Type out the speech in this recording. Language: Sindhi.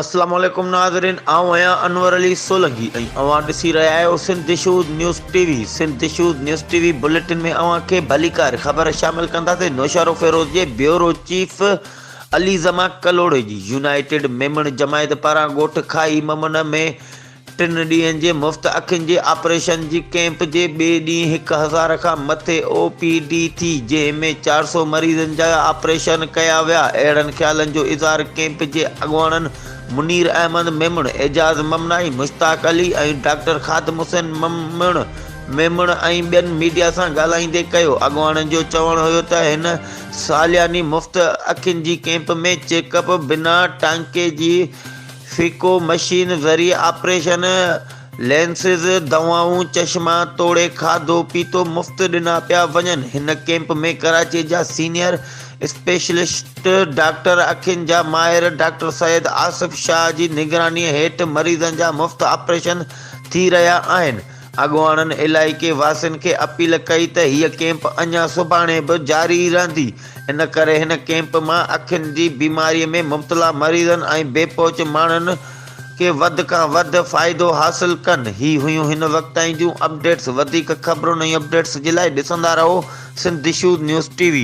السلام عليڪم ناظرين آئون آهيان انور علي سولنگي ۽ اوهان ڏسي رهيا آهيو سنڌ دشوز نيوز ٽي وي سنڌ دشوز نيوز ٽي وي بليٽن ۾ اوهان کي ڀليڪار خبر شامل ڪنداسين نوشارو فيروز جي بيورو چيف علي زمان ڪلوڙي جي يونائيٽيڊ ميمڻ جماعت پاران ڳوٺ کائي ممن ۾ ٽن ڏينهن جي مفت اکين جي آپريشن جي ڪيمپ جي ٻئي ڏينهن هڪ هزار کان مٿي او پي ڊي ٿي جنهن ۾ چار سؤ مريضن جا آپريشن ڪيا ويا اهڙن خيالن جو اظهار ڪيمپ جي اڳواڻن منير احمد ميمڻ، اعجاز ممنائي، مشتاق علي ۽ ڊاڪٽر خادم حسين ميمڻ ميمڻ ۽ ٻين ميڊيا سان ڳالهائيندي ڪيو اڳواڻن جو چوڻ هيو ته هن سالياني مفت اکين جي ڪيمپ ۾ چيڪ اپ بنا ٽانڪي جي فيڪو مشين ذريعي آپريشن، لينسز، دوائون، چشما توڙي کاڌو پيتو مفت ڏنا پيا وڃن. هن ڪيمپ ۾ ڪراچي جا سينيئر اسپيشلسٽ ڊاڪٽر، اکين جا ماهر ڊاڪٽر سيد آصف شاهه جي نگراني هيٺ مريضن جا مفت آپريشن ٿي رهيا آهن. اڳواڻن علائقي واسين کي اپيل ڪئي ته هيء ڪيمپ اڃا سڀاڻي به جاري رهندي، ان ڪري هن ڪيمپ مان اکين جي بيماري ۾ مبتلا مريضن ۽ بي پهچ ماڻهن کي وڌ کان وڌ فائدو حاصل ڪن. هي هيون هن وقت تائين جون اپڊيٽس، وڌيڪ خبرن ۽ اپڊيٽس جي لاء ڏسندا رهو سنڌ دشوذ نيوز ٽي وي.